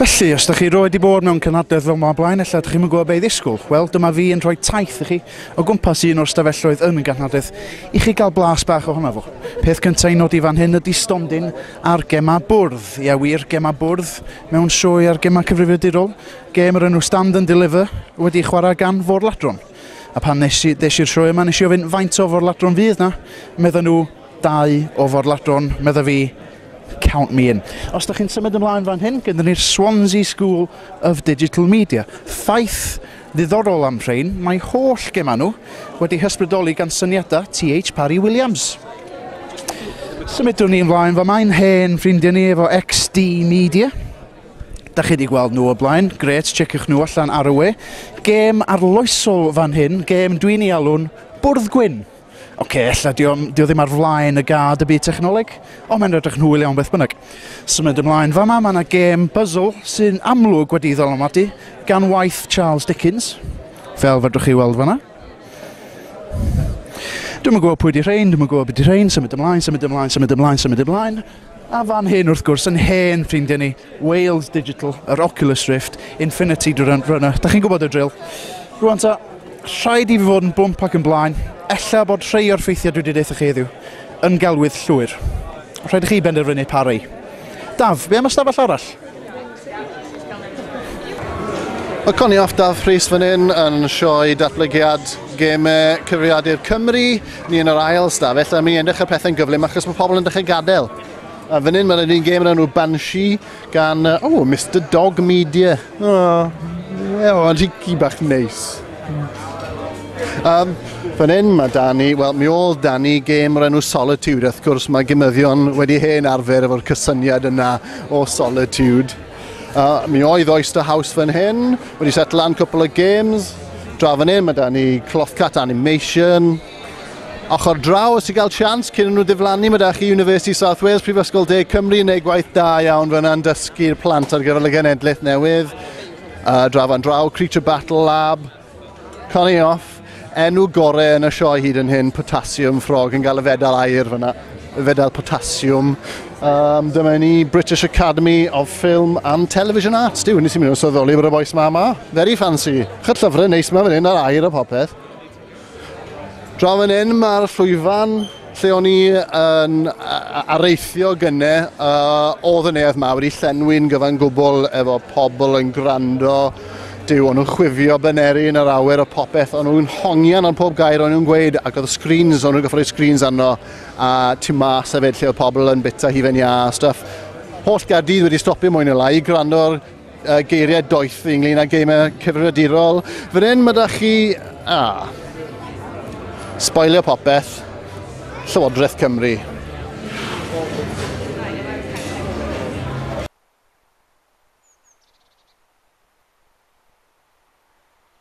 Felly, os ydych chi roed i bod mewn cynhadledd fel yma blaen, efallai ydych chi'n gwybod beth i ddisgwyl. Wel, dyma fi yn rhoi taith i chi o gwmpas un o'r stafelloedd yn y ganhadledd i chi gael blas bach ohono fo. Peth cyntaf i nodi fan hyn ydy stondin ar gemau bwrdd. Ie wir, gemau bwrdd mewn sioe ar gemau cyfrifiadurol. Gêm yr enw Stand and Deliver wedi ei chwarae gan Fôr Ladron. A pan nes i, des i'r sioe yma, nes i ofyn faint o forladron fydd na? Medda nhw, dau o forladron, medda fi, count me in. Os da chi'n symud ymlaen fan hyn, gyda ni'r Swansea School of Digital Media. Ffaith ddiddorol am rhain, mae holl gemau nhw wedi hysbrydoli gan syniadau TH Parry Williams. Symudwn ni ymlaen, fa mae'n hen ffrindiau ni efo XD Media. Da chi wedi gweld nhw o blaen, gret, checiwch nhw allan ar y we. Gêm arloesol fan hyn, gêm dwi'n ei alw'n bwrdd gwyn. Oce, okay, ella di o, di o ddim ar flaen y gad y byd technoleg, ond mae'n rydych nhwyl iawn beth bynnag. Symud ymlaen fama, mae yna gêm puzzle sy'n amlwg wedi ei ddylanwadu gan waith Charles Dickens, fel fedrwch chi weld fanna. Dwi'n yn gwybod pwy di rhain, dwi'n yn gwybod beth di rhain, symud ymlaen, symud ymlaen, symud ymlaen, symud ymlaen. Symud ymlaen. A fan hyn, wrth gwrs, yn hen ffrindiau ni, Wales Digital, yr Oculus Rift, Infinity Runner. Da chi'n gwybod y drill. Rwan ta, rhaid i fi fod yn blwmp ac yn blaen, ella bod rhai o'r ffeithiau dwi wedi deitha chi heddiw yn gelwydd llwyr. Rhaid i chi benderfynu pa rei. Daf, be am ystafell arall? Mae Connie off Daf Rhys fan hyn yn sioe datblygiad gemau cyfrifiadur Cymru. Ni yn yr ail sta, felly mi yn dechrau pethau'n gyflym achos mae pobl yn dechrau gadael. A fan hyn mae'n un gêm yn enw Banshee gan, oh, Mr Dog Media. Oh, yeah, ond hi bach neis. Um, fan hyn mae Dani, wel mi ôl Dani gêm o'r enw Solitude, wrth gwrs mae gymyddion wedi hen arfer efo'r cysyniad yna o Solitude. Uh, mi oedd Oyster House fan hyn, wedi set lan cwpl o games, dra fan hyn mae Dani Clothcat Animation, ochr draw os i gael sians cyn nhw ddiflannu mae da chi University South Wales, Prifysgol Deg Cymru yn ei gwaith da iawn fyna'n dysgu'r plant ar gyfer y genedlaeth newydd. A dra fan draw, Creature Battle Lab, Connie Off, enw gore yn y sioe hyd yn hyn, Potassium Frog, yn cael y fedal air fyna, y fedal Potassium. Um, dyma ni British Academy of Film and Television Arts. Diw, nes i mynd yn syddoli bod y boes ma ma. Very fancy. Chyll llyfrau neis ma fan hyn ar air a popeth. Draw fan hyn mae'r llwyfan lle o'n i yn areithio gynne, uh, oedd y neuadd ma wedi llenwi'n gyfan gwbl efo pobl yn gwrando, dyw o'n nhw'n chwifio byneri yn yr awyr o popeth, o'n nhw'n hongian ar pob gair o'n nhw'n gweud ac oedd screens, o'n nhw'n gyffroi screens arno a tu mas hefyd lle oedd pobl yn bita hufen iâ a stuff. Holl gardydd wedi stopio mwy neu lai i gwrando'r uh, geiriau doeth ynglyn â geimau cyfrifiadurol. Fan hyn, mae da chi... A. Spoilio popeth. Llywodraeth Cymru.